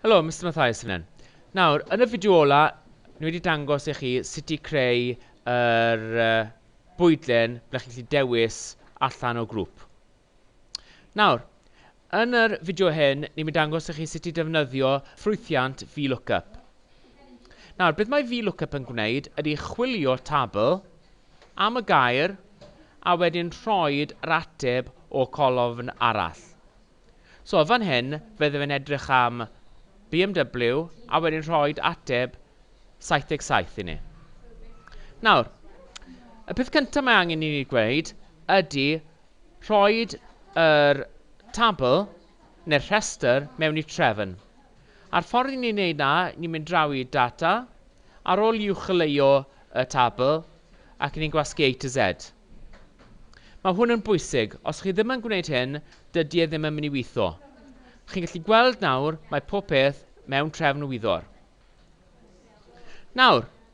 Helo, Mister Mathias sy'n fan hyn. Nawr, yn y fideo ola, ni wedi dangos i chi sut i creu yr uh, bwydlen ble chi'n gallu dewis allan o grŵp. Nawr, yn yr fideo hyn, ni'n mynd dangos i chi sut i defnyddio ffrwythiant VLOOKUP. Nawr, beth mae VLOOKUP yn gwneud ydy chwilio tabl am y gair a wedyn rhoid yr ateb o colofn arall. So, fan hyn, fydde fe'n edrych am BMW a wedyn rhoid ateb 77 i ni. Nawr, y peth cyntaf mae angen i ni gweud ydy rhoid yr tabl neu'r rhestr mewn i trefn. A'r ffordd i ni wneud na, ni'n mynd draw i data, ar ol i uwchleuo y tabl, ac ni'n gwasgu A to Z. Mae hwn yn bwysig, os chi ddim yn gwneud hyn, dydy e ddim yn mynd i weithio. Chi'n gallu gweld nawr, mae pob peth mewn trefn wyddor. Nawr,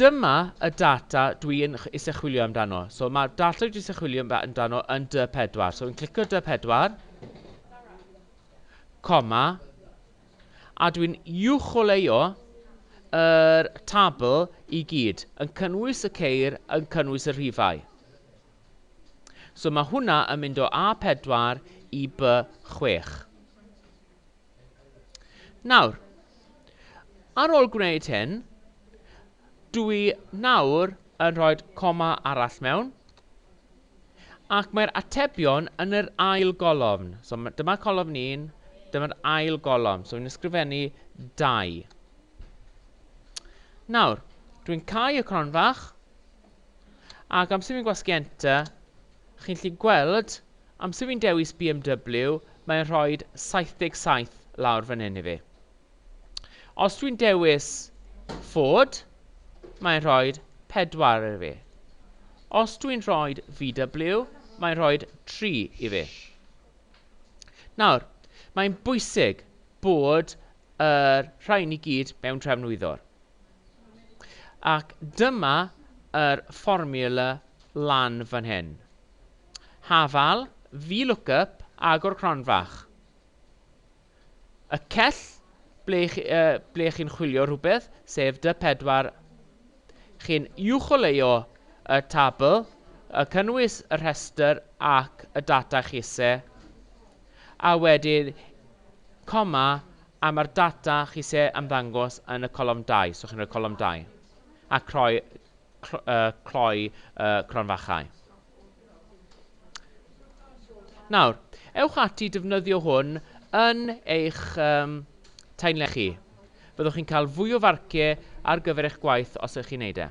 Dyma y data dwi yn isie chwilio amdano. So mae'r data dwi isie chwilio amdano yn dy 4. So fi'n clicio dy 4. Coma. A dwi'n uwcholeuo yr tabl i gyd, yn cynnwys y ceir, yn cynnwys y rhifau. So mae hwnna yn mynd o A4 i B6. Nawr, ar ôl gwneud hyn, dw i nawr yn rhoi coma arall mewn, ac mae'r atebion yn yr ail golofn. So, dyma colofn 1, dyma'r ail golofn. So, i'n ysgrifennu 2. Nawr, dwi'n cau y cronfach, Ac amser fi'n gwasgu enter, chi'n gallu gweld, amser fi'n dewis BMW, mae'n rhoi 77 lawr fan hyn i fi. Os dwi'n dewis Ford, mae'n rhoi 4 i fi. Os dwi'n rhoi VW, mae'n rhoi 3 i fi. Nawr, mae'n bwysig bod yr rhain i gyd mewn trefnwyddwr. Ac dyma yr fformiwla lan fan hyn. Hafal, VLOOKUP, agor cronfach. Y cell ble, uh, ble chi'n chwilio rhywbeth, sef dy 4 Chi'n uwcholeuo y tabl, y cynnwys y rhestr ac y data chise, a wedyn coma A mae'r data chi isie ymddangos yn y colofn dau, so chi'n rhoi colofn dau, a croi, cloi y cronfachau. Nawr, ewch ati i defnyddio hwn yn eich um, taenle chi. Fyddwch chi'n cael fwy o farciau ar gyfer eich gwaith os ydych chi'n neud e.